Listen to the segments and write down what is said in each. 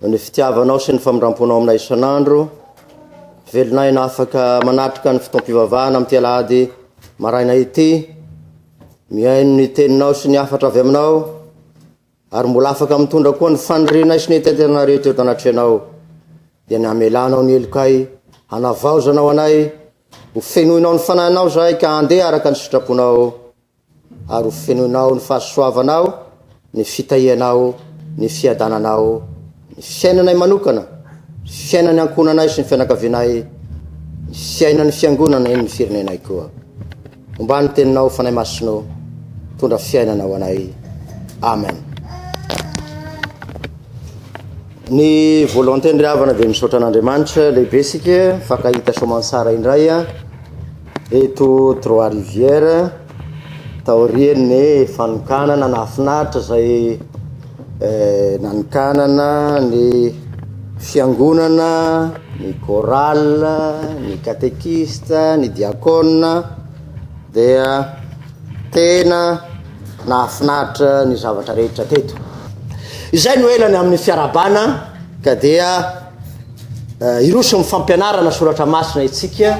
Ny fitiavanao sy ny famindramponao aminay isan'andro, velonay na afaka manatrika ny fotoam-pivavahana amin'ity alahady maraina ity, mihaino ny teninao sy ny hafatra avy aminao, ary mbola afaka mitondra koa ny fanirianay sy ny hetaheta rehetra eto anatrehanao, dia ny hamelanao ny helokay, hanavaozanao anay, ho fenoinao ny fanahinao izahay ka handeha araka ny sitraponao. Ary ho fenoinao ny fahasoavanao, ny fitahianao, ny fiadananao, ny fiainanay manokana, ny fiainan'ny ankohonanay sy ny fianakavianay, ny fiainan'ny Fiangonana, eny ny firenenay koa. Hombà ny Teninao, Fanahy Masina ô, mitondra fiainana ho anay. Amen. Ny volonté-ny ry havana dia misaotra an'Andriamanitra lehibe isika, mifankahita soamantsara indray. Eto Trois Rivières, taorian'ny fanokanana nahafinaritra izay nanokanana ny fiangonana, ny chorale, ny catéchiste, ny diakona dia tena nahafinaritra ny zavatra rehetra teto. Izay no ela ny amin'ny fiarahabana ka dia. Hiroso amin'ny fampianarana soratra masina isika,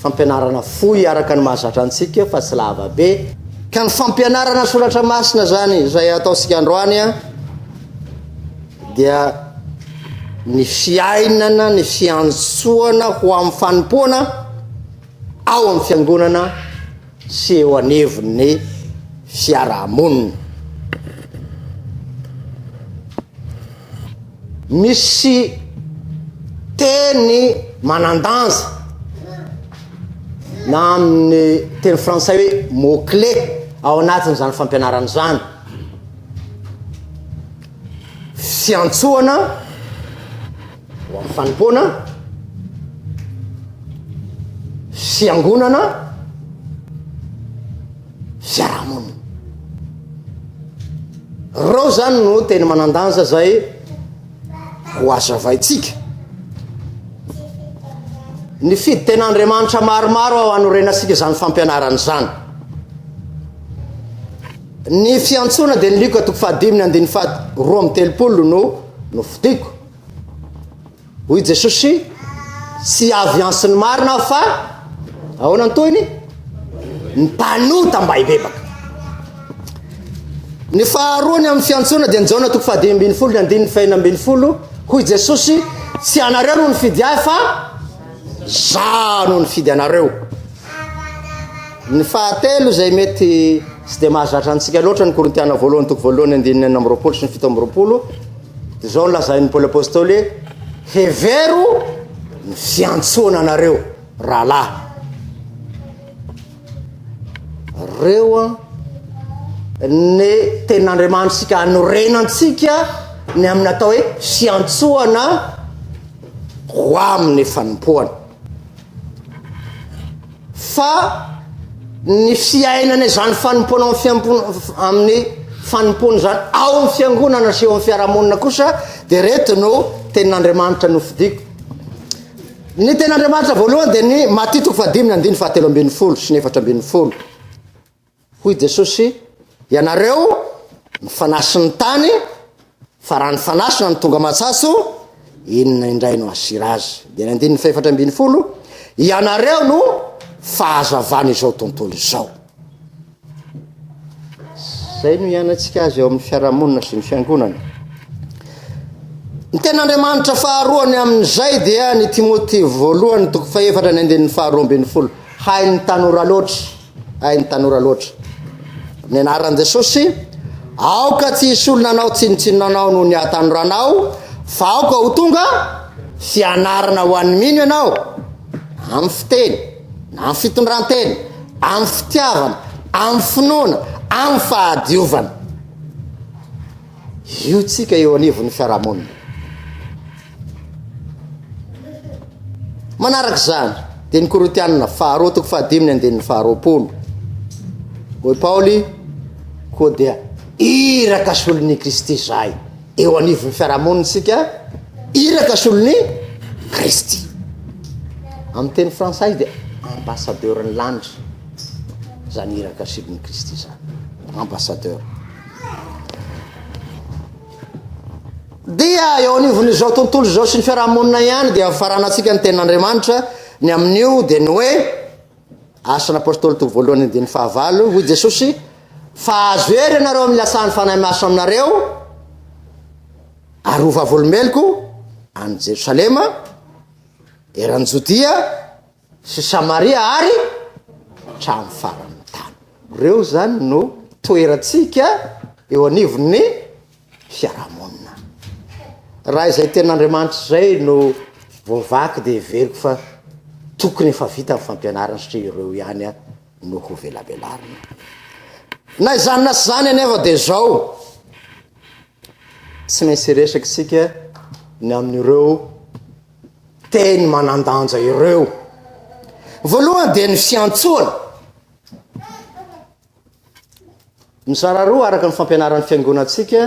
fampianarana fohy araka ny mahazatra antsika fa tsy lava be. Ka ny fampianarana soratra masina izany izay ataontsika androany dia ny fiainana, ny fiantsoana ho amin'ny fanompoana ao amin'ny fiangonana sy eo anivon'ny fiarahamonina. Misy teny manan-danja na amin'ny teny frantsay hoe mot clé ao anatin'izany fampianarana izany. Fiantsoana Ho amin'ny fanompoana, fiangonana, fiarahamonina. Ireo izany no teny manan-danja izay ho hazavaintsika. Nifidy tena Andriamanitra maromaro aho hanorenantsika izany fampianarana izany. Ny fiantsoana dia ny lioka toko fahadimy ny andininy faha roa amby telopolo no nofidiko. Hoy Jesosy, Tsy avy antsy ny marina aho fa ahoana ny tohiny? Ny mpanota mba hibebaka. Ny faharoany amin'ny fiantsoana dia ny Jaona toko fahadimy ambin'ny folo ny andininy fahina ambin'ny folo. Hoy Jesosy, tsy anareo no nifidy ahy fa za no nifidy anareo. Ny fahatelo izay mety tsy dia mahazatra antsika loatra ny Korintiana voalohany toko voalohany andininy enina amby roapolo sy ny fito amby roapolo. Dia izao no lazain'i Paoly Apôstôly hoe, Hevero ny fiantsoana anareo rahalahy. Reo an, ny tenin'Andriamanitsika anorenantsika ny amin'ny atao hoe fiantsoana ho amin'ny fanompoana. Fa ny fiainana izany fanompoana amin'ny fiampo- amin'ny fanompoana izany ao amin'ny fiangonana sy eo amin'ny fiarahamonina kosa dia reto no tenin'Andriamanitra nofidiko. Ny tenin'Andriamanitra voalohany dia ny Matia toko fahadimy ny andininy fahatelo ambin'ny folo sy ny efatra ambin'ny folo. Hoy Jesosy, Ianareo no fanasin'ny tany, fa raha ny fanasina no tonga matsatso, inona indray no hasiry azy? Dia ny andininy fahefatra ambin'ny folo, Ianareo no fahazavan'izao tontolo izao. Izay no ianantsika azy eo amin'ny fiarahamonina sy ny fiangonana. Ny ten'Andriamanitra faharoa ny amin'izay dia ny Timoty voalohany toko fahefatra ny andininy faharoa ambin'ny folo. Hain'ny tanora loatra Hay ny tanora loatra. Amin'ny anaran'i Jesosy, aoka tsy hisy olona anao tsinontsinona anao noho ny hahatanoranao, fa aoka ho tonga fianarana ho an'ny mino ianao amin'ny fiteny, na amin'ny fitondrantena, amin'ny fitiavana, amin'ny finoana, amin'ny fahadiovana. Io tsika eo anivon'ny fiarahamonina. Manaraka izany, dia ny Korintianina faharoa toko fahadimy ny andininy faharoapolo. Hoy Paoly, koa dia iraka solon'i Kristy izahay. Eo anivon'ny fiarahamonina isika, iraka solon'i Kristy. Amin'ny teny frantsay dia ambassadeur ny lanitra. Izany iraka solon'i Kristy izany. Ambassadeur. Dia eo anivon'izao tontolo izao sy ny fiarahamonina ihany dia faranantsika ny tenin'Andriamanitra ny amin'io dia ny hoe Asan'ny Apôstôly toko voalohany andininy fahavalo hoy Jesosy fa azo hery ianareo amin'ny latsahan'ny fanahy masina aminareo ary ho vavolombeloko any Jerosalema eran'ny Jodia sy Samaria ary hatramin'ny faran'ny tany. Ireo izany no toerantsika eo anivon'ny fiarahamonina. Raha izay ten'Andriamanitra izay no voavaky dia heveriko fa tokony efa vita ny fampianarana satria ireo ihany no hovelabelarina. Na izany na izany anefa dia izao, tsy maintsy hiresaka isika ny amin'ireo teny manan-danja ireo. Voalohany dia ny fiantsoana. Mizara roa araka ny fampianaran'ny fiangonantsika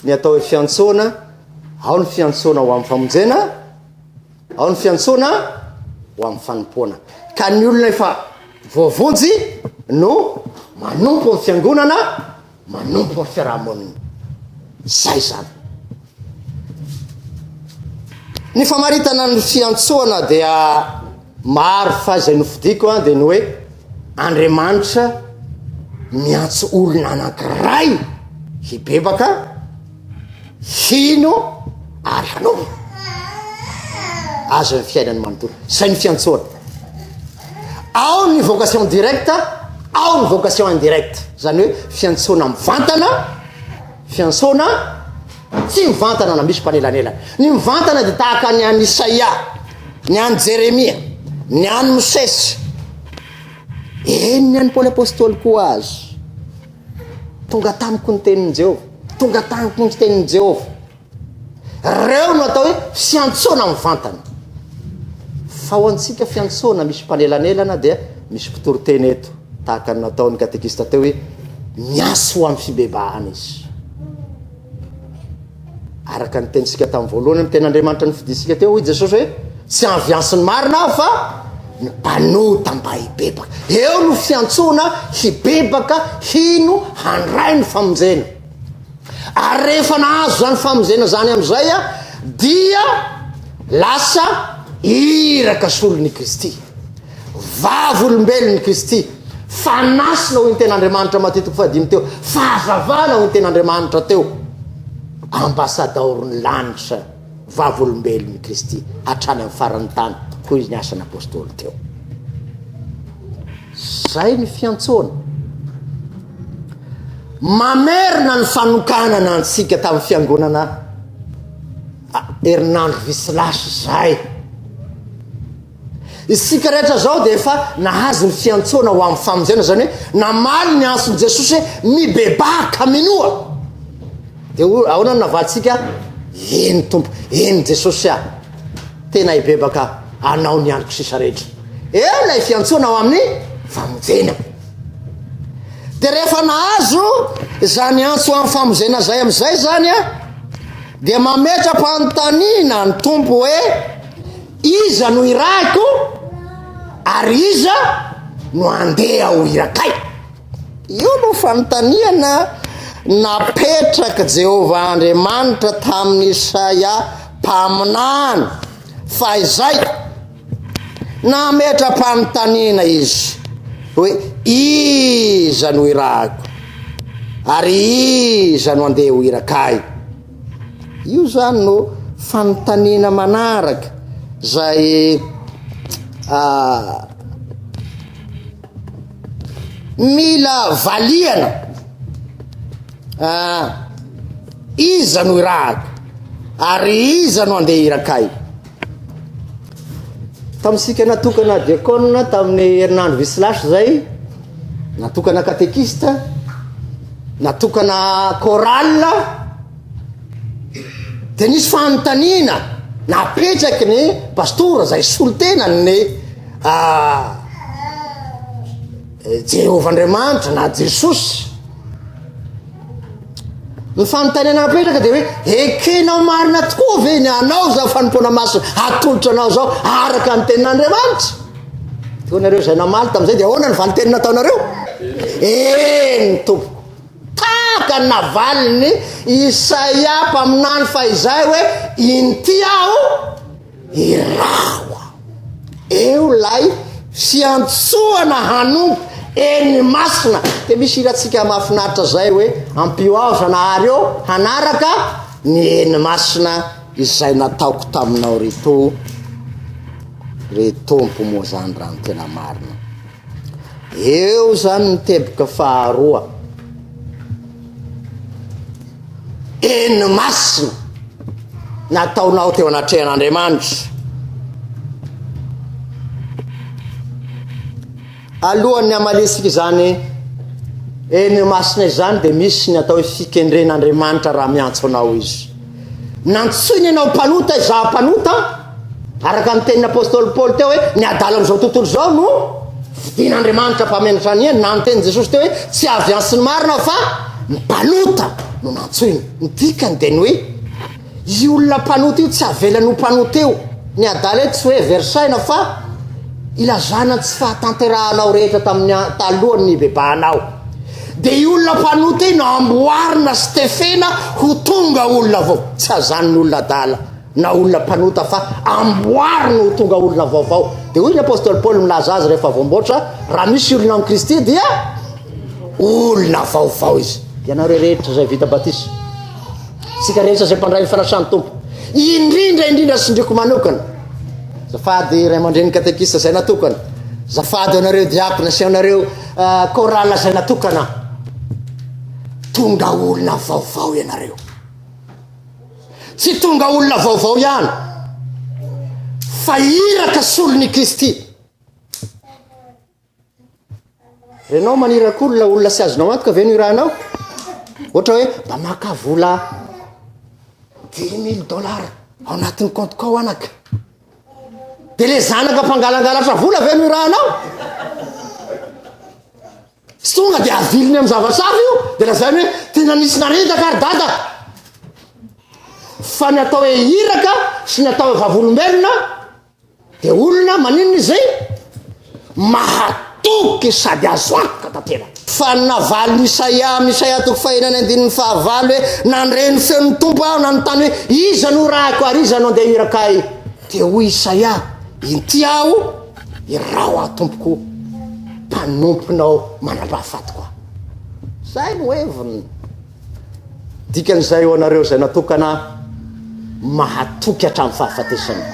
ny atao hoe fiantsoana, ao ny fiantsoana ho amin'ny famonjena, ao ny fiantsoana ho amin'ny fanompoana. Ka ny olona efa voavonjy no manompo ny fiangonana manompo ny fiarahamonina. Izay izany. Ny famaritana ny fiantsoana dia maro fa izay nofidiko an dia ny hoe Andriamanitra miantso olona anankiray hibebaka hino ary hanaova azy ny fiainany manontolo zay ny fiantsoana ao ny vocation directe ao ny vocation indirecte zany hoe fiantsoana mivantana fiantsoana tsy mivantana na misy mpanelanelana ny mivantana de tahaka ny any isaia ny any jeremia ny any mosesy eny ny any paoly apôstôly koa azy Tonga tamiko ny tenin'i Jehovah. Tonga tamiko ny tenin'i Jehovah. Ireo no atao hoe fiantsoana mivantana. Fa ho antsika fiantsoana misy mpanelanelana dia misy mpitory teny eto, tahaka ny nataon'ny katekista teo hoe miantso ho amin'ny fibebahana izy. Araka ny tenintsika tamin'ny voalohany amin'ny tenin'Andriamanitra nofidintsika teo, hoy Jesosy hoe, Tsy anviansin'ny marina aho fa ny mpanota mba hibebaka. Eo no fiantsoana hibebaka hino handray ny famonjena. Ary rehefa nahazo izany famonjena izany amin'izay dia lasa iraka solon'i Kristy. Vavolombelon' i Kristy, fanasina hoy ny tena Andriamanitra Matio toko fahadimy teo, fahazavana hoy ny tena Andriamanitra teo, ambasadaoro ny lanitra, vavolombelon' i Kristy hatrany amin'ny faran'ny tany hoy ny asan' Apôstôly teo. Zay ny fiantsoana. Mamerina ny fanokanana antsika tamin'ny fiangonana herinandro visy lasa zay. Isika rehetra izao dia efa nahazo ny fiantsoana ho amin'ny famonjena, izany hoe namaly ny antson'i Jesosy hoe mibebaha ka minoa. Dia ho ahoana no navalintsika? Eny Tompo, eny Jesosy aho. Tena hibebaka anao ny androko sisa rehetra. Eo ilay fiantsoana ho amin'ny famonjena. Dia rehefa nahazo izany antso ho amin'ny famonjena izay amin'izay izany a, dia mametra-panontaniana ny Tompo hoe Iza no irahiko ary iza no handeha ho irakay? Io no fanontaniana napetrak'i Jehovah Andriamanitra tamin'i Isaia mpaminany fahizay. Nametra-panontaniana izy hoe, Iza no irahiko? Ary iza no handeha ho irakay? Io zany no fanontaniana manaraka zay ah, mila valiana ah, iza no irahako ary iza no andeha irakay? Tamintsika natokana diakona tamin'ny herinandro visy lasa izay, natokana katekista, natokana chorale, dia nisy fanontaniana napetraky ny pastora izay solontenan'ny ah, Jehovah Andriamanitra na Jesosy. Ny fanontaniana apetraka dia hoe ekenao marina tokoa ve ny anao izao fanompoana masina atolotra anao izao araka ny tenin'Andriamanitra? Toa nareo izay namaly tamin'izay dia ahoana ny valinteny nataonareo? Eny tompoko. Tahaka ny navaliny Isaia mpaminany fahizay hoe inty aho Iraho aho. Eo lay fiantsoana hanompo eny masina de misy hirantsika mahafinaritra zay hoe ampio aho zanahary ô hanaraka ny eny masina izay nataoko taminao ry to ry tompo moa zany raha ny tena marina. Eo izany ny teboka faharoa. Eny masina nataonao teo anatrehan'Andriamanitra. Alohan'ny hamalisika izany eny masina izany dia misy ny atao hoe fikendren'Andriamanitra raha miantso anao izy. Nantsoiny ianao mpanota izaho mpanota. Araka ny tenin'ny apostoly Paoly teo hoe ny adala amin'izao tontolo izao no fidin'Andriamanitra mpamenatra ny eny, na ny tenin'i Jesosy teo hoe tsy avy antsy ny marina fa ny mpanota no nantsoina. Ny dikany dia ny hoe io olona mpanota io tsy avelany ho mpanota eo. Ny adala eto tsy hoe versena fa ilazana ny tsy fahatanterahanao rehetra tamin'ny talohan'ny hibebahanao. Dia io olona mpanota io no amboarina sy tefena ho tonga olona vao, tsy azan'ny olona adala. na olona mpanota fa amboary no ho tonga olona vaovao. Dia hoy ny apostoly Paoly milaza azy rehefa voamboatra, raha misy olona ao amin'i Kristy dia olona vaovao izy. Ianareo rehetra izay vita batisa, isika rehetra izay mpandray ny fanasan'ny Tompo, indrindra indrindra sindriko manokana, zafady ray aman-dreny katekista izay natokana, zafady anareo diakona sy anareo uh, chorale izay natokana, tonga olona vaovao ianareo. Tsy tonga olona vaovao ihany fa iraka solon' i Kristy. Renao maniraka olona, olona sy azonao antoka ve no irahanao? Ohatra hoe mba maka vola dix mille dollars ao anatin'ny compte kao anaka. Dia le zanaka mpangalangalatra vola ve no irahanao? Tsy tonga dia aviliny amin'ny zavatra hafa io, dia lazainy hoe tena nisy naredaka ary dada. Fa ny atao hoe iraka sy ny atao hoe vavolombelona dia olona maninona izay mahatoky sady azo antoka tanteraka. Fa ny navaliny Isaia amin'ny Isaia toko fahenina ny andininy fahavalo hoe nandre ny feon'ny Tompo aho nanontany hoe iza no irahako ary iza no andeha hirakay dia hoy Isaia inty aho Irao aho tompoko mpanomponao mandrapahafatiko aho. Izay no heviny. Dikan'izay ho anareo izay natokana mahatoky hatramin'ny fahafatesana.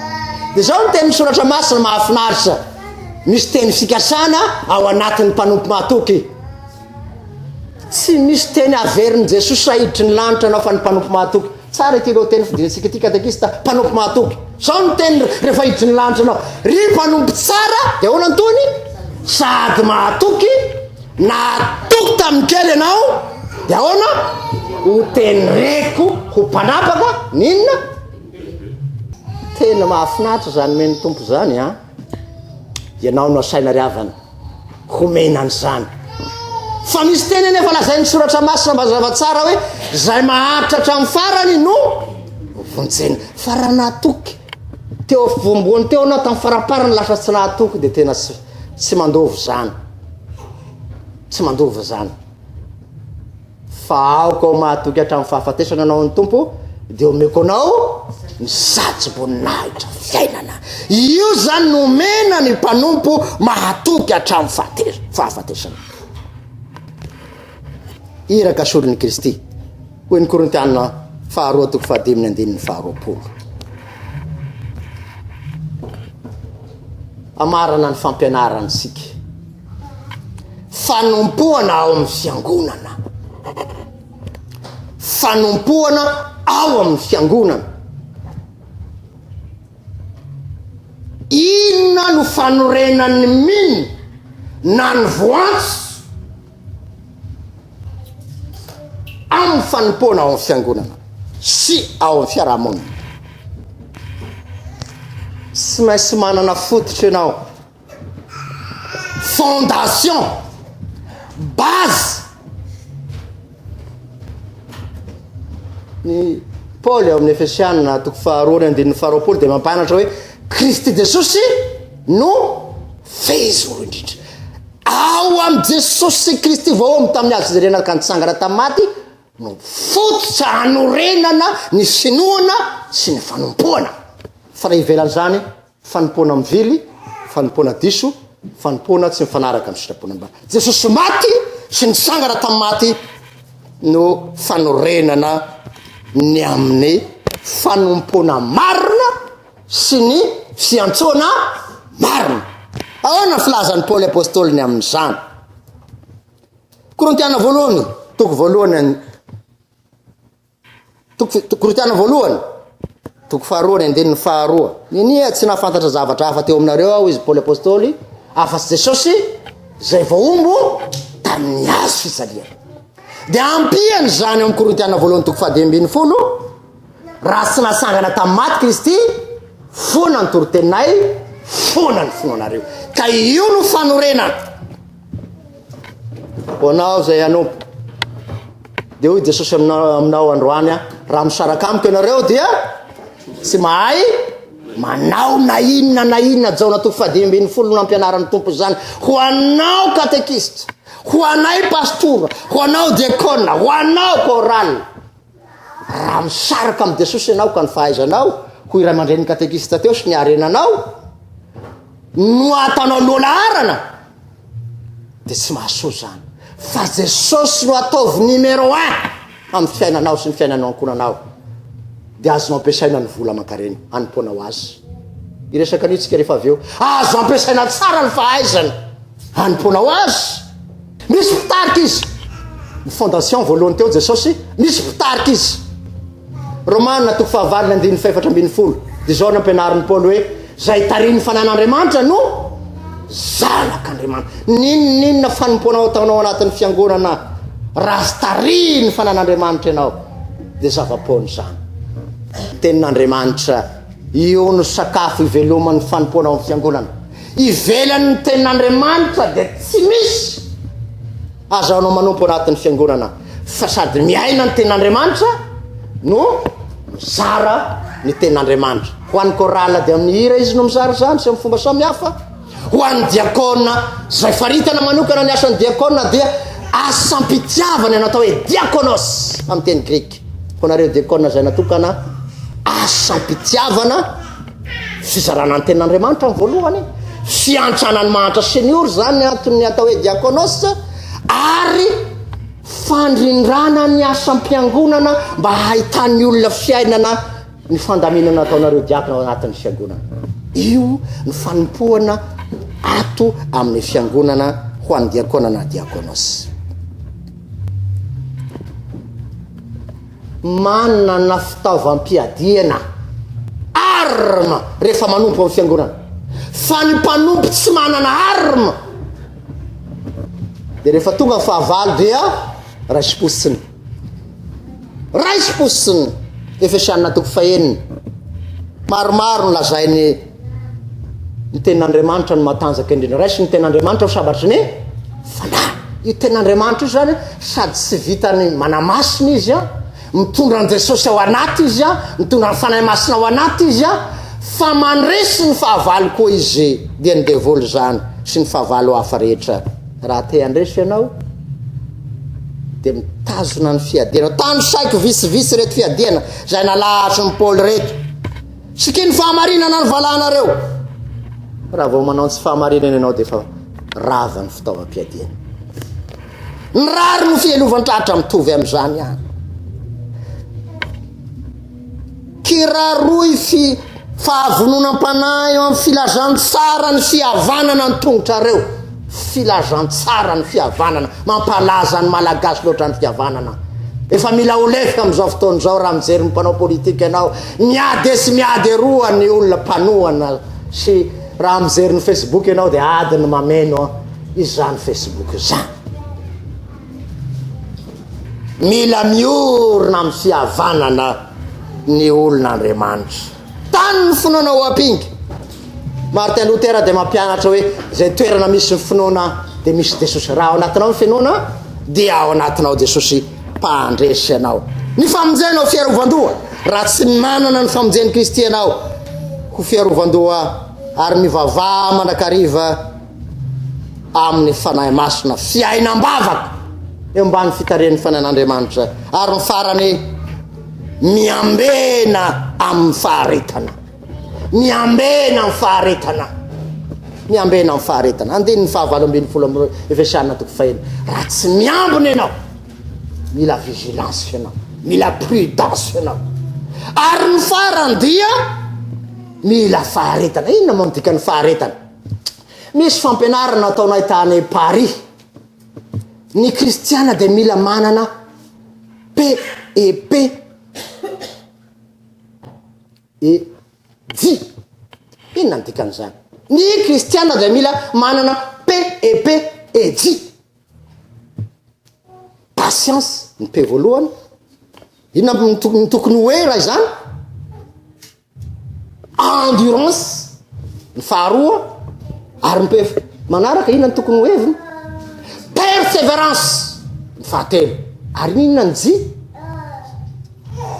Dia izao ny tenin'ny soratra masina mahafinaritra. Misy teny fikasana ao anatin'ny mpanompo mahatoky. Tsy misy teny averin'i Jesosy sahiditry ny lanitra anao fa ny mpanompo mahatoky. Tsara ity lohateny fidinantsika ity katekista, mpanompo mahatoky. Zao ny teniny rehefa hiditra ny lanitra anao, ry mpanompo tsara, dia ahoana ny tohiny? Sady mahatoky, nahatoky tamin'ny kely ianao, dia ahoana? Ho tenireko ho mpanapaka, n'inona? Tena mahafinaritra izany men'ny Tompo izany an. Ianao no asaina ry havana homena an'izany. Fa misy teny anefa lazain'ny soratra masina mazava tsara hoe izay maharitra hatramin'ny farany no vonjena. Fa raha nahatoky teo voamboany teo anao tamin'ny faramparany lasa tsy nahatoky dia tena tsy tsy mandova izany. Tsy mandova izany. Fa aoka ho mahatoky hatramin'ny fahafatesana anao ny Tompo, dia omeko anao ny satroboninahitra fiainana. Io izany no omena ny mpanompo mahatoky hatramin'ny fahafatesana. Iraka solon'i Kristy, hoy ny Korintiana faharoa toko fahadimy ny andininy faharoapolo. amarana ny fampianarantsika. Fanompoana ao amin'ny fiangonana. Fanompoana ao amin'ny fiangonana. Inona no fanorenan'ny min na ny voantsy amin'ny fanompoana ao amin'ny fiangonana sy ao amin'ny fiarahamonina. Tsy maintsy manana fototra ianao. Fondation, base, ny Paoly ao amin'ny Efesiana toko faharoa ny andininy faharoapolo dia mampanatra hoe Kristy Jesosy no fehizoro indrindra. Ao amin'i Jesosy sy Kristy vao ao amin'ny tamin'ny hazo fijerena ka nitsangana tamin'ny maty no fototra hanorenana ny finoana sy ny fanompoana. Fa raha ivelan'izany, Fanompoana mivily, fanompoana diso, fanompoana tsy mifanaraka amin'ny sitrapony mba. Jesosy maty sy nitsangana tamin'ny maty no fanorenana ny amin'ny fanompoana marina sy ny fiantsoana marina. Ahoana filazan'i Paoly Apostoly ny amin'izany? Korintiana voalohany, toko voalohany Toko Korinthiana voalohany, toko faharoa ny andininy faharoa. Ninia tsy nahafantatra zavatra hafa teo aminareo aho izy Paoly Apôstôly, afa-tsy Jesosy izay voahombo tamin'ny hazo fisaliana. Dia ampiany izany ao amin'ny Korinthiana voalohany toko fahadimy ambin'ny folo, raha tsy nasangana tamin'ny maty Kristy, foana ny toroteninay, foana ny finoanareo. Ka io no fanorenana. Ho anao izay hanompo. Dia hoy Jesosy aminao, aminao androany, raha misaraka amiko ianareo dia tsy mahay manao na inona na inona jaona toko fahadimy folo no nampianaran'ny tompo izany ho anao katekista ho anay pastora ho anao diakona ho anao korale Raha misaraka amin'i Jesosy ianao ka ny fahaizanao ho iray mandrenin'ny katekista teo sy ny harenanao no ataonao loha laharana, dia tsy mahasoa izany. Fa Jesosy no ataovy numéro un amin'ny fiainanao sy ny fiainanao ankonanao. Dia azonao ampiasaina ny vola aman-karena hanompoanao azy. Iresaka anitsika rehefa avy eo. Azo ampiasaina tsara ny fahaizana hanompoanao azy. Misy mpitarika izy. Ny fondation voalohany teo Jesosy, misy mpitarika izy. Romana toko fahavalo ny andininy fahefatra ambin'ny folo. Izao nampianarin'i Paoly hoe zay tarihin'ny fanan'Andriamanitra no zanak'Andriamanitra. N'inon'inona fanompoana ataonao anatin'ny fiangonana raha tsy tarihin'ny fanan'Andriamanitra ianao dia zava-poana izany. Tenin'Andriamanitra, io no sakafo iveloman'ny fanompoana ao amin'ny fiangonana. Ivelan' ny tenin' Andriamanitra dia tsy misy azahoanao manompo ao anatin' ny Fiangonana, fa sady miaina ny tenin' Andriamanitra no mizara ny tenin' Andriamanitra. Ho an' ny kôraly dia amin' ny hira izy no mizara izany sy amin' ny fomba samy hafa. Ho an' ny diakôna izay faritana manokana ny asan' ny diakôna dia asam-pitiavana ny atao hoe diakônôs amin' ny teny grika. Ho anareo diakona izay natokana asam-pitiavana, fizarana ny tenan'Andriamanitra ny voalohany, fiantrana ny mahantra senior izany anton'ny atao hoe diakonos ary fandrindrana ny asam-piangonana mba hahitan'ny olona fiainana ny fandaminana ataonareo diakona ao anatin'ny fiangonana. Io ny fanompoana ato amin'ny fiangonana ho an'ny diakona na diakonos. Manana fitaovam-piadiana, armes, rehefa manompo amin'ny fiangonana. Fa ny mpanompo tsy manana armes dia rehefa tonga ny fahavalo dia raisim-posiny. Raisim-posiny. Efesiana toko fahenina. Maromaro ny lazain'ny Io tenin'Andriamanitra no matanjaka indrindra. Raiso ny tenin'Andriamanitra ho sabatry ny fanahy. Io tenin'Andriamanitra io zany sady tsy vitany manamasina izy a, mitondra an'i Jesosy ao anaty izy a, mitondra ny fanahy masina ao anaty izy a, fa mandresy ny fahavalo koa izy, dia ny devoly zany sy ny fahavalo hafa rehetra. Raha te handresy ianao dia mitazona ny fiadiana. Tanisaiko vitsivitsy ireto fiadiana izay nalahatry ny Paoly ireto. Sikino fahamarinana ny valahanareo. Raha vao manao ny tsy fahamarinana ianao dia efa rava ny fitaovam-piadiana. Ny rary no fihelovan-tratra mitovy amin'izany ihany. Kiraroy fi fahavononam-panahy eo amin'ny filazantsara ny fihavanana ny tongotrareo. Filazantsara ny fihavanana, mampalaza ny malagasy loatra ny fihavanana. Efa mila ho lefy amin'izao fotoana izao raha mijery ny mpanao politika ianao, miady esy miady eroa ny olona mpanohana sy raha mijery ny Facebook ianao dia ady ny mameno izany Facebook izany. Mila miorina amin'ny fihavanana ny olona Andriamanitra. Tany ny finoana ao Apinga. Martin Luther dia mampianatra hoe izay toerana misy ny finoana dia misy Jesosy. Raha ao anatinao ny finoana dia ao anatinao Jesosy mpandresy anao. Ny famonjena ho fiarovan-doha. Raha tsy manana ny famonjen'i Kristy ianao ho fiarovan-doha ary mivavaha mandrakariva amin'ny Fanahy Masina, fiainam-bavaka eo ambany fitarihan'ny Fanahin'Andriamanitra, ary ny farany, miambena amin'ny faharetana. Miambena amin'ny faharetana. Miambena amin'ny faharetana. Andininy fahavalo ambin'ny folo amin'ny Efesiana toko fahelo. Raha tsy miambina ianao, mila vigilance ianao, mila prudence ianao. Ary ny farany dia mila faharetana. Inona moa ny dikan'ny faharetana? Misy fampianarana ataonay tany Paris. Ny kristiana dia mila manana PEP. E J. Inona ny dikan'izany? Ny kristiana dia mila manana PEP E J. Patience ny P voalohany. Inona no tokony ho hoe raha izany? Endurance ny faharoa ary ny pef manaraka inona ny tokony ho heviny? Perseverance ny fahatelo ary inona ny ji?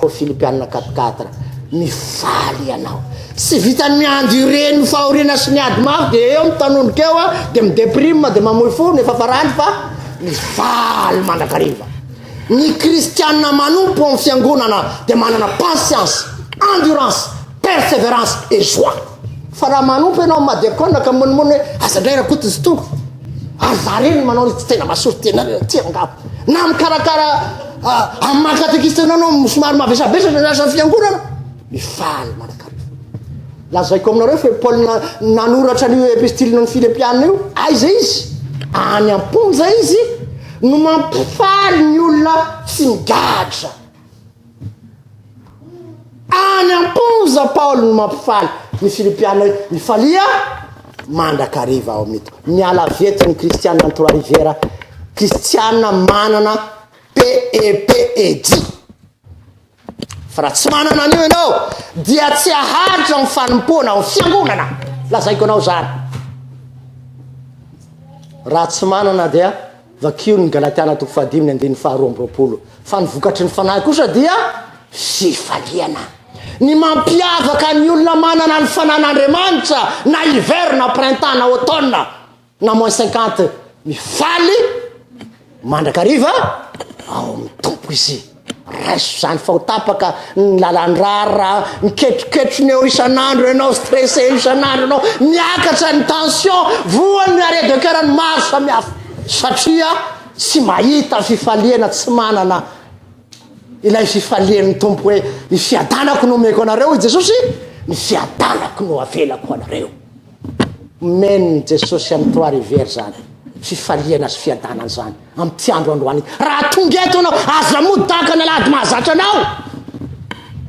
Ô Filipiana quatre quatre mifaly ianao tsy vitany mi-endurer ny fahoriana sy ny ady mafy dia eo mitanondroka eo dia mi-deprime dia mamoy fo ny efa farany fa mifaly mandrakariva Ny kristiana manompo ao amin'ny fiangonana dia manana patience, endurance, perseverance et joie. Fa raha manompo ianao amin'ny madiakona ka monimony hoe aza indray rakoto izy itony, ary za reny ny manao ny tsy tena mahasory tena reny aty angamba. Na mikarakara ah, amin'ny maha katekista anao ianao somary mavesabesatra ny asan'ny fiangonana, mifaly mandrakariva. Lazaiko aminareo fa io Paul nanoratra an'io epistilina an'i Filipiana io, aiza izy? Any am-ponja izy no mampifaly ny olona tsy migadra. Any am-ponja Paul no mampifaly ny Filipiana io, mifalia mandrakariva ao amin'ito. Miala avy eto ny Kristiana any Trois Rivières, Kristiana manana PEPED. Fa raha tsy manana an'io ianao, dia tsy haharitra ny fanompoana ao fiangonana. Lazaiko anao izany. Raha tsy manana dia vakio ny Galatiana toko fahadimy ny andininy faharoa amby roapolo. Fa ny vokatry ny fanahy kosa dia fifaliana. Ny mampiavaka ny olona manana ny fanan'Andriamanitra na hiver na printemps na automne na moins cinquante mifaly mandrakariva ao amin'ny tompo izy raiso zany fa ho tapaka ny lalandrara miketroketro ny eo isan'andro ianao stressé isan'andro ianao miakatra ny tension voany ny arrêt de cœur ny maro samihafa satria tsy mahita fifaliana tsy manana ilay fifalian'ny tompo hoe ny fiadanako no omeko anareo i jesosy ny fiadanako no avelako anareo Amen Jesosy an'i Trois Rivières zany fifaliana sy fiadanana zany amty andro androany ity raha tonga eto anao aza mody tahaka ny alahady mahazatra anao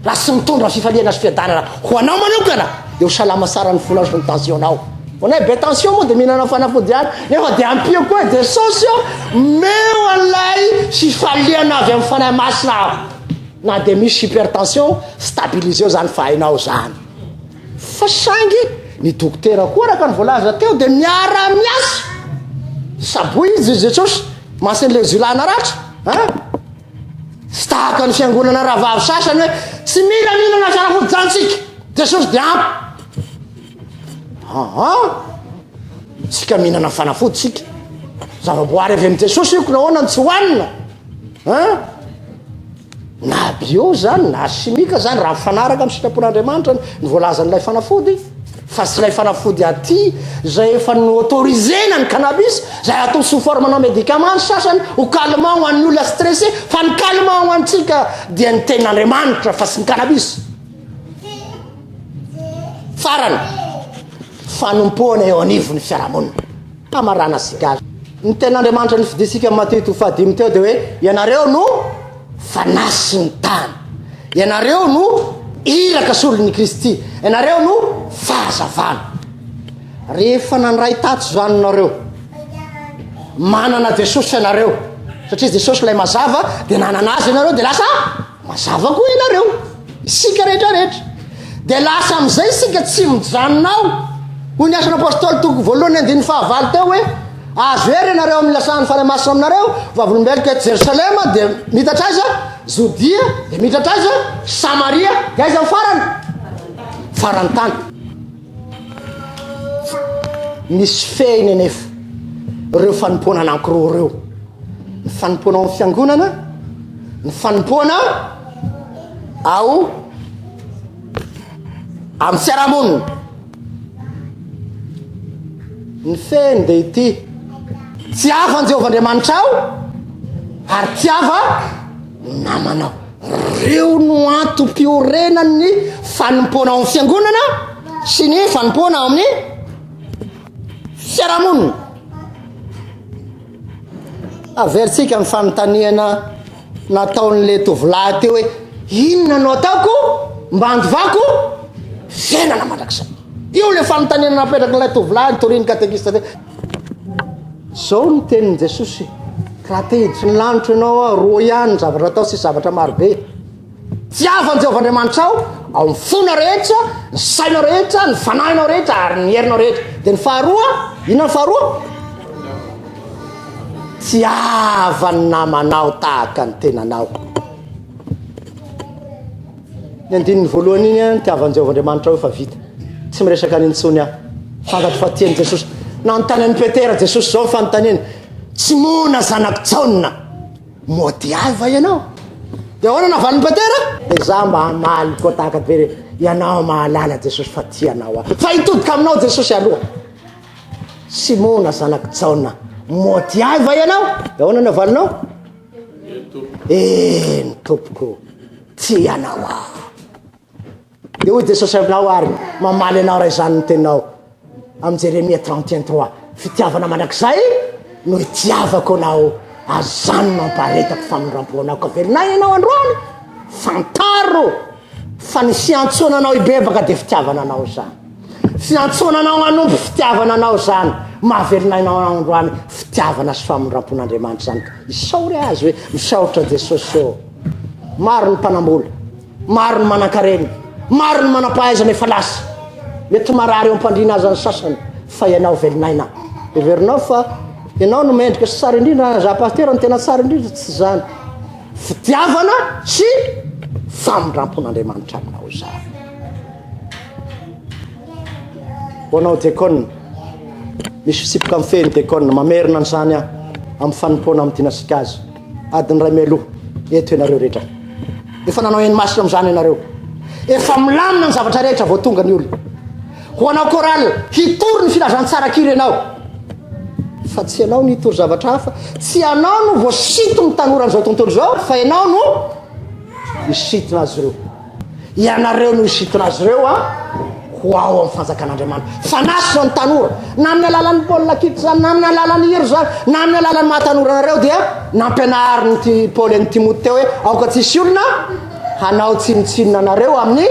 raha tsy mitondra fifaliana sy fiadanana ho anao manokana dia ho salama tsara ny fonao sy ny tensionao ho anay be tension moa dia mihinana fanafody ihany nefa dia ampio koa Jesosy ô meo anay fifaliana avy amin'ny fanahy masina aho na dia misy hypertension stabiliseo zany fa hainao zany Fa saingy ny dokotera koa araka ny voalaza teo dia miara miasa saboidy i Jesosy masin' ilay zilana ratra a! Tsy tahaka ny fiangonana rahavavy sasany hoe tsy mila mihinana fanafody jantsika, Jesosy dia ampy. Aa! Tsika mihinana fanafody tsika. Zavaboary avy amin'i Jesosy io ko nahoana no tsy hohanina? A! Na bio izany na simika izany, raha mifanaraka amin'ny sitrapon'Andriamanitra ny voalazan'ilay fanafody, fa tsy ilay fanafody aty izay efa no-autorisena ny cannabis, izay atao sous forme-na médicament ny sasany, ho calmant ho an'ny olona stressé, fa ny calmant ho antsika dia ny tenin'Andriamanitra fa tsy ny cannabis. Farany, fanompoana eo anivon'ny fiarahamonina. Famarana sy gasy. Ny tenin'Andriamanitra nifidintsika amin'i Matio itoa fahadimy teo dia hoe ianareo no fanasin'ny tany. Ianareo no iraka solon'i Kristy. Ianareo no fahazavana. Rehefa nandray tato izany nareo, manana Jesosy ianareo, satria Jesosy ilay mazava, dia nanana azy ianareo dia lasa Mazava koa ianareo, isika rehetra rehetra. Dia lasa amin'izay isika tsy mijanona ao. Hoy ny asan'ny apôstôly toko voalohany andininy fahavalo teo hoe azo hery ianareo amin'ny lasan'ny fanahy masina aminareo, vavolombeloko eto Jerosalema dia mitatra aiza? Jodia dia mitatra aiza? Samaria dia aiza ny farany? Farantany. Misy fehiny anefa ireo fanompoana anankiroa ireo, ny fanompoana ao amin'ny fiangonana, ny fanompoana ao amin'ny fiarahamonina. Ny fehiny dia ity, tiava an'i Jehovah Andriamanitra aho ary tiava namanao. Ireo no antom-piorenan'ny fanompoana ao amin'ny fiangonana sy ny fanompoana ao amin'ny fiarahamonina. Averintsika ny fanontaniana nataon'ilay tovolahy teo hoe inona no ataoko mba handovako fiainana mandrakizay. Io ilay fanontaniana napetrak'ilay tovolahy nitorian'ny katekista teo. Zao ny tenin'i Jesosy, Raha te hiditry ny lanitra ianao aho, roa ihany ny zavatra atao sy zavatra marobe. Tiavo an'i Jehovah Andriamanitrao ao amin'ny fonao rehetra, ny sainao rehetra, ny fanahinao rehetra ary ny herinao rehetra. Dia ny faharoa, inona ny faharoa? Tiava ny namanao tahaka ny tenanao. Ny andininy voalohany iny an, tiavan Jehovah Andriamanitra aho efa vita. Tsy miresaka any intsony aho. Fantatro fa tiany Jesosy. Nanontany an'i Petera Jesosy izao ny fanontaniany. Tsy moana zanako Jaona. Mody ahy va ianao? Dia ahoana navalin'i Petera? Dia za mba hamaly koa tahaka be re. Ianao mahalala Jesosy fa tianao aho. Fa hitodika aminao Jesosy aloha. Simona zanako Jaona, mody ahy va ianao? Dia ahoana navalinao? Eny tompoko, tsy ianao aho. Dia hoy Jesosy aminao ary, mamaly anao raha izany ny teninao. Amin'ny Jeremia 31 3, fitiavana mandrakizay no itiavako anao, azany no ampaharetako famindram-po anao. Ka velon'aina ianao androany, fantaro. Fa ny fiantsoana anao hibebaka dia fitiavana anao izany. Fiantsoana anao hanompo fitiavana anao izany. Mahavelona anao androany fitiavana sy famindram-pon'Andriamanitra izany ka. Isaory Azy hoe, Misaotra Jesosy ô. Maro ny mpanam-bola, maro ny manan-karena, maro ny manam-pahaizana efa lasa. Mety marary eo am-pandriana aza ny sasany, fa ianao velon'aina. Heverinao fa ianao no mendrika sy tsara indrindra, za Pasitera no tena tsara indrindra, tsy izany. fitiavana sy famindrampon'Andriamanitra aminao izany. Ho anao diakona, misy fisipoka amin'ny fehiny diakona, mamerina an'izany aho amin'ny fanompoana amin'ny dinasika azy. Adiny iray mialoha, eto ianareo rehetra. Efa nanao eny masina amin'izany ianareo. Efa milamina ny zavatra rehetra vao tonga ny olona. Ho anao Coral, hitory ny filazantsara-kira ianao. Fa tsy ianao no hitory zavatra hafa. Tsy ianao no voasinton' ny tanora an'izao tontolo izao, fa ianao no hisintona azy ireo. Ianareo no hisintona azy ireo an, ho ao amin'ny fanjakan'Andriamanitra. Fanasina ny tanora, na amin'ny alalan'ny baolina kitra izany, na amin'ny alalan'ny hira izany, na amin'ny alalan'ny maha tanora anareo, dia nampianarin'i Paoly an'i Timoty teo hoe aoka tsy hisy olona hanao tsinontsinona anareo amin'ny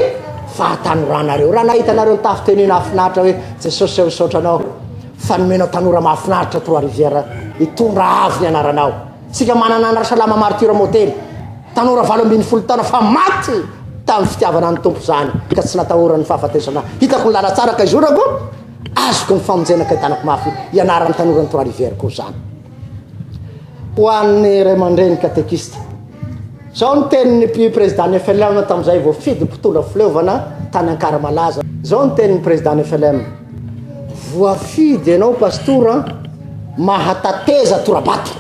fahatanoranareo. Raha nahitanareo ny tafy tenue nahafinaritra hoe Jesosy aho misaotra anao fa nomenao tanora mahafinaritra Trois Rivières hitondra avo ny anaranao. Tsika manana an'i Rasalama Martyr Moteny, tanora valo ambin'ny folo taona fa maty tamin'ny fitiavana ny Tompo izany ka tsy natahoran'ny fahafatesana. Hitako ny lala tsara ka izorako, azoko ny famonjena ka hitanako mafy ianaran'ny tanora ny Trois Rivières koa izany. Ho an'ny ray aman-dreny katekista, Izao ny tenin'ny mpi prezidan'ny FLM tamin'izay voafidy mpitondra fileovana tany Ankaramalaza. Izao ny tenin'ny prezidan'ny FLM, Voafidy ianao Pastora mahatateza tora-bato.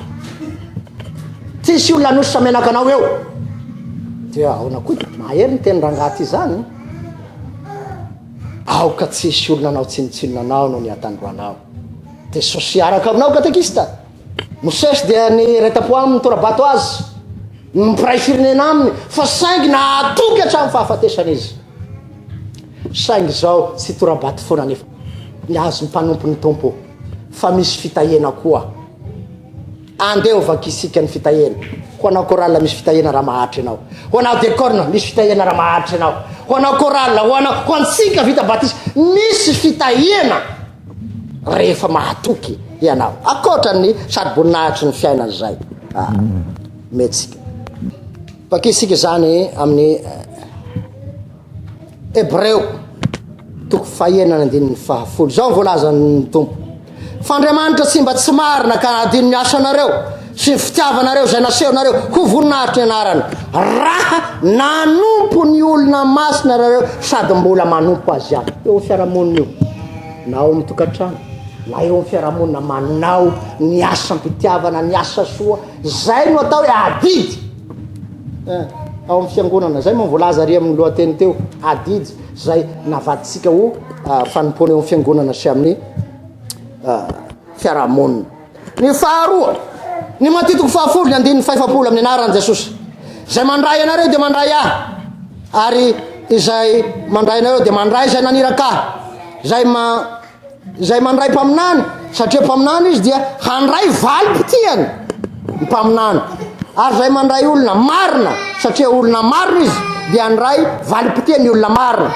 Tsisy olona hanosotra menaka anao eo. Dia ahoana koa ity? Mahery ny teny rangahy ity izany. Aoka tsisy olona hanao tsinontsinona anao noho ny hatandroanao. Dia Jesosy hiaraka aminao katekista. Mosesy dia niretam-po aminy, nitora-bato azy ny mpiray firenena aminy, fa saingy nahatoky hatramin'ny fahafatesana izy. Saingy izao tsy hitora-bato foana anefa ny azy ny mpanompo ny Tompo, fa misy fitahiana koa. Andeha ho vakisika ny fitahiana. Ho anao chorale misy fitahiana raha maharitra ianao. Ho anao decorne misy fitahiana raha maharitra ianao. Ho anao chorale, ho anao, ho antsika vita batisa misy fitahiana. rehefa mahatoky ianao, ankoatra ny sady boninahitry ny fiainana izay ah, metsika. Vakisika izany amin'ny Hebreo eh, toko fahenana andininy fahafolo. Izao voalazan'ny Tompo. F'Andriamanitra tsy mba tsy marina ka adino ny asanareo. Tsy ny fitiavanareo izay nasehonareo ho voninahitry ny anarany, raha nanompo ny olona masina ianareo sady mbola manompo azy ihany. Eo amin'ny fiarahamonina io, na ao amin'ny tokantrano, na eo amin'ny fiarahamonina, manao ny asam-pitiavana, ny asa soa, izay no atao hoe adidy. Eh, ao amin'ny fiangonana, izay moa voalaza ary amin'ny lohateny teo, adidy, izay navadintsika ho ah, fanompoana eo amin'ny fiangonana sy amin'ny ah, fiarahamonina. Ny faharoa, ny matitiko fahafolo ny andininy fahefapolo amin'ny anaran'i Jesosy. Izay mandray anareo dia mandray ahy, ary izay mandray anareo dia mandray izay naniraka ahy. Izay ma izay mandray mpaminany satria mpaminany izy dia handray valim-potiany ny mpaminany ary izay mandray olona marina satria olona marina izy dia handray valim-potiany olona marina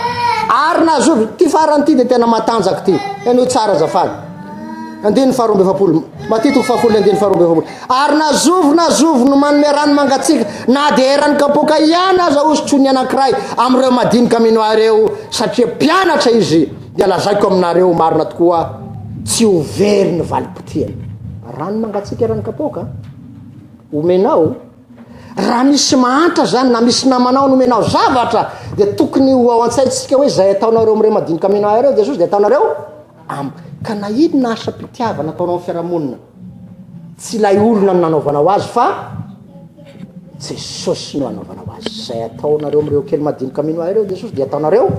ary nahazoa ty farany ty dia tena matanjaka ty ianao tsara zafady Andiany faharoa amby efapolo. Matitiko fahafolo andiany faharoa amby efapolo. Ary na zovy na zovy no manome rano mangatsiaka na dia eran'ny kapoaka ihany aza hosotro ny anankiray amin'ireo madinika mino ahy ireo, satria mpianatra izy, dia lazaiko aminareo marina tokoa, tsy ho very ny valim-potiany. Rano mangatsiaka eran'ny kapoaka omenao. Raha misy mahantra zany na misy namanao nomenao zavatra dia tokony ho ao an-tsaintsika hoe zay ataonareo amin'ireo madinika omena ahy ireo Jesosy dia ataonareo amiko. Ka na inona asam-pitiavana ataonao amin'ny fiarahamonina, tsy ilay olona no nanaovanao azy fa Jesosy no anaovanao azy. Zay ataonareo amin'ireo kely madinika omena ahy ireo Jesosy dia ataonareo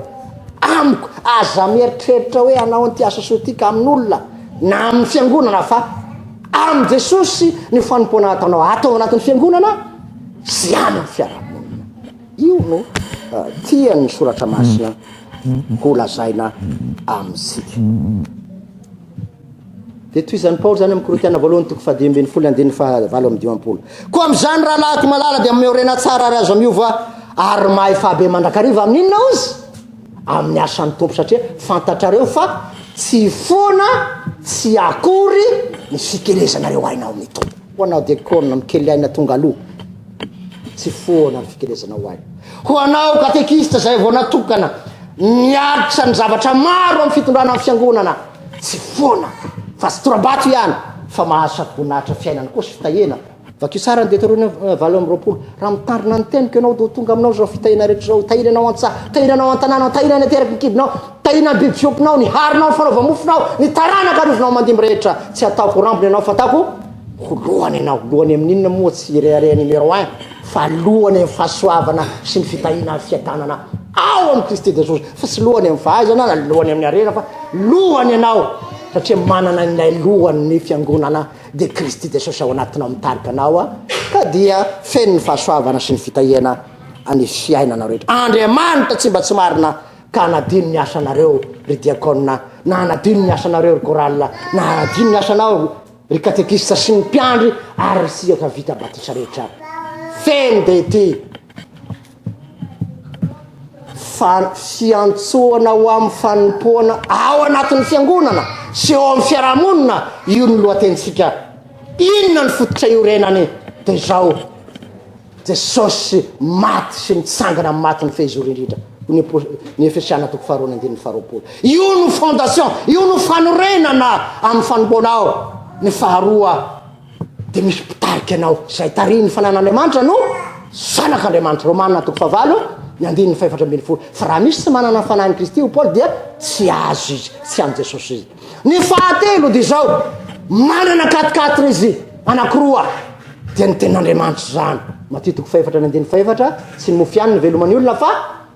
amiko. Aza mieritreritra hoe hanao an'ity asa soa ity ka amin'olona na amin'ny fiangonana fa Amin'i Jesosy ny fanompoana ataonao ato ao anatin'ny fiangonana sy any amin'ny fiarahamonina. Io no uh, tian'ny soratra masina ho lazaina amintsika. Dia toy izany Paoly izany amin'ny Korintiana voalohany toko fahadimy ambin'ny folo andininy fahavalo amin'ny dimampolo. Koa amin'izany rahalahiko malala dia miorena tsara ary azo miova ary mahay fahabe mandrakariva amin'inona ozy? amin'ny asan'ny Tompo satria fantatrareo fa tsy foana tsy akory ny fikelezanareo aina ao amin'ny Tompo. Ho anao dekona mikely aina tonga aloha, tsy foana ny fikelezanao aina. Ho anao katekista izay vao natokana, niaritra ny zavatra maro amin'ny fitondrana ny fiangonana, tsy foana fa tsy tora-bato ihany fa mahazo sady voninahitra fiainana koa sy fitahiana Vakio tsara ny Detorônômy valo amby roapolo, Raha mitandrina ny teniko ianao, dia ho tonga aminao izao fitahiana rehetra izao, Tahina ianao an-tsaha, tahina anao an-tanànao, tahina any an-teraky ny kibonao, tahina ny biby fiompianao, ny harinao, ny fanaovam-mofonao, ny taranaka arovanao aman-dimby rehetra. Tsy hataoko ho rambony ianao, fa hataoko ho lohany ianao. Lohany amin'ny inona moa? Tsy hirehareha numéro un, fa lohany amin'ny fahasoavana sy ny fitahiana ary fiadanana ao amin'i Kristy Jesosy. Fa tsy lohany amin'ny fahaizana na lohany amin'ny harena, fa lohany ianao, satria manana ilay lohany ny fiangonana. dia Kristy Jesosy ao anatinao mitarika anao a, ka dia feno ny fahasoavana sy ny fitahiana any fiainanao rehetra. Andriamanitra tsy mba tsy marina ka hanadino ny asanareo ry diakona, na hanadino ny asanareo ry chorale, na hanadino ny asanao ry katekista sy ny mpiandry ary ry siaka vita batisa rehetra. Feno dia ity. fan- fiantsoana ho amin'ny fanompoana ao anatin'ny fiangonana sy eo amin'ny fiarahamonina io ny lohatenintsika inona ny fototra iorenany dia izao jesosy maty sy nitsangana amin'ny maty ny fehizoro indrindra ny apo- ny efesiana toko faharoa ny andininy faharoapolo io no fondation io no fanorenana amin'ny fanompoana ao ny faharoa dia misy mpitarika anao, izay tarihin'ny fananan'Andriamanitra no zanak'Andriamanitra, Romana toko fahavalo ny andininy fahefatra ambin'ny folo, fa raha misy tsy manana ny fanahin'i Kristy ho Paoly dia tsy azy izy, tsy amin'i Jesosy izy. Ny fahatelo dia izao, manana katikatiny izy anakiroa, dia ny tenin'Andriamanitra izany, Matia toko fahefatra ny andininy fahefatra, tsy ny mofo ihany ny velomany olona fa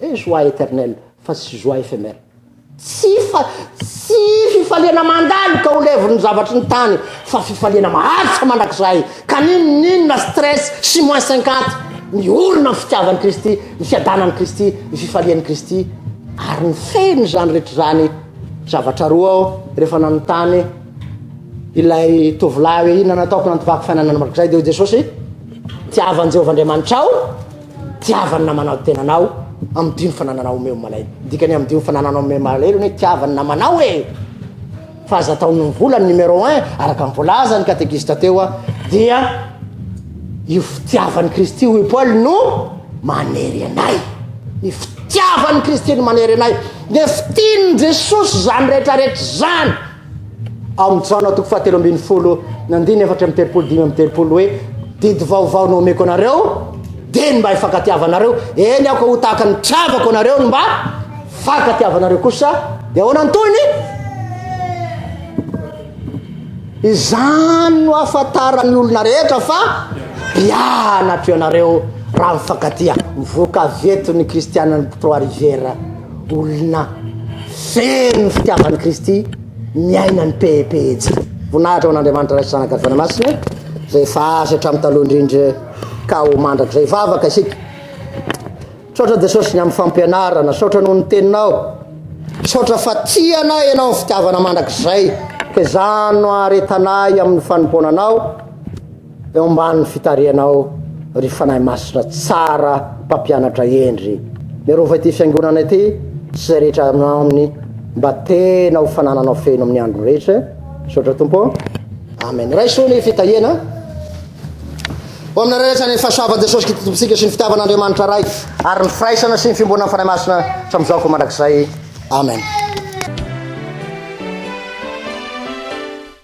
Eh joie eternel fa tsy joie ephemer. Tsy fa tsy fifaliana mandalo ka ho levon'ny zavatry ny tany fa fifaliana maharitra mandrakizay ka n'inon'inona stress sy moins cinquante miorina amin'ny fitiavan'i Kristy, ny fiadanan'i Kristy, ny fifalian'i Kristy ary ny fehin'izany rehetra izany zavatra roa aho rehefa nanontany ilay tovolahy hoe inona no ataoko nanatovako fiainana mandrakizay dia hoy Jesosy tiavan'i Jehovah Andriamanitrao tiavany namanao tenanao amidio ny fanananao omeo malahelo dikany amidio ny fanananao omeo malahelo ny tiavany namanao e fa aza atao ny vola ny numéro un araka ny voalazany katekista teo a dia io fitiavan'i kristy hoy paoly no manery anay ny fitiavan'i kristy no manery anay ny fitian'i jesosy zany rehetrarehetra zany amin'ny Jaona toko fahatelo ambin'ny folo ny andiny efatra amby telopolo dimy amby telopolo hoe didy vaovao no omeko anareo dia ny mba hifankatiavanareo eny aoka ho tahaka ny tiavako anareo ny mba fankatiavanareo kosa dia ahoana ny tohiny izany no afantaran'ny olona rehetra fa mpianatro ianareo raha mifankatia mivoaka vetony kristianan'ny trois riviera Olona feno fitiavan'i Kristy miaina ny pehipehitsika. Voninahitra ho an'Andriamanitra Ray sy Zanaka ary Fanahy Masina izay efa azy hatramin'ny taloha indrindra ka ho mandrakizay. Vavaka isika. Misaotra Jesosy ny amin'ny fampianarana. Misaotra noho ny teninao. Misaotra fa tia anay ianao amin'ny fitiavana mandrakizay. Ka izany no aretanay amin'ny fanompoana anao. Eo ambany fitarihanao ry Fanahy Masina tsara mpampianatra hendry, mirova ity fiangonana ity sy izay rehetra ao aminy mba tena ho fanananao feno amin'ny andro rehetra, misaotra Tompo ô. Amen. Raiso ny fitahiana ho aminareo rehetra ny fahasoavan'i Jesosy Kristy Tompontsika sy ny fitiavan'Andriamanitra Ray ary ny firaisana sy ny fiomboanan'ny Fanahy Masina hatramin'izao koa mandrakizay. Amen.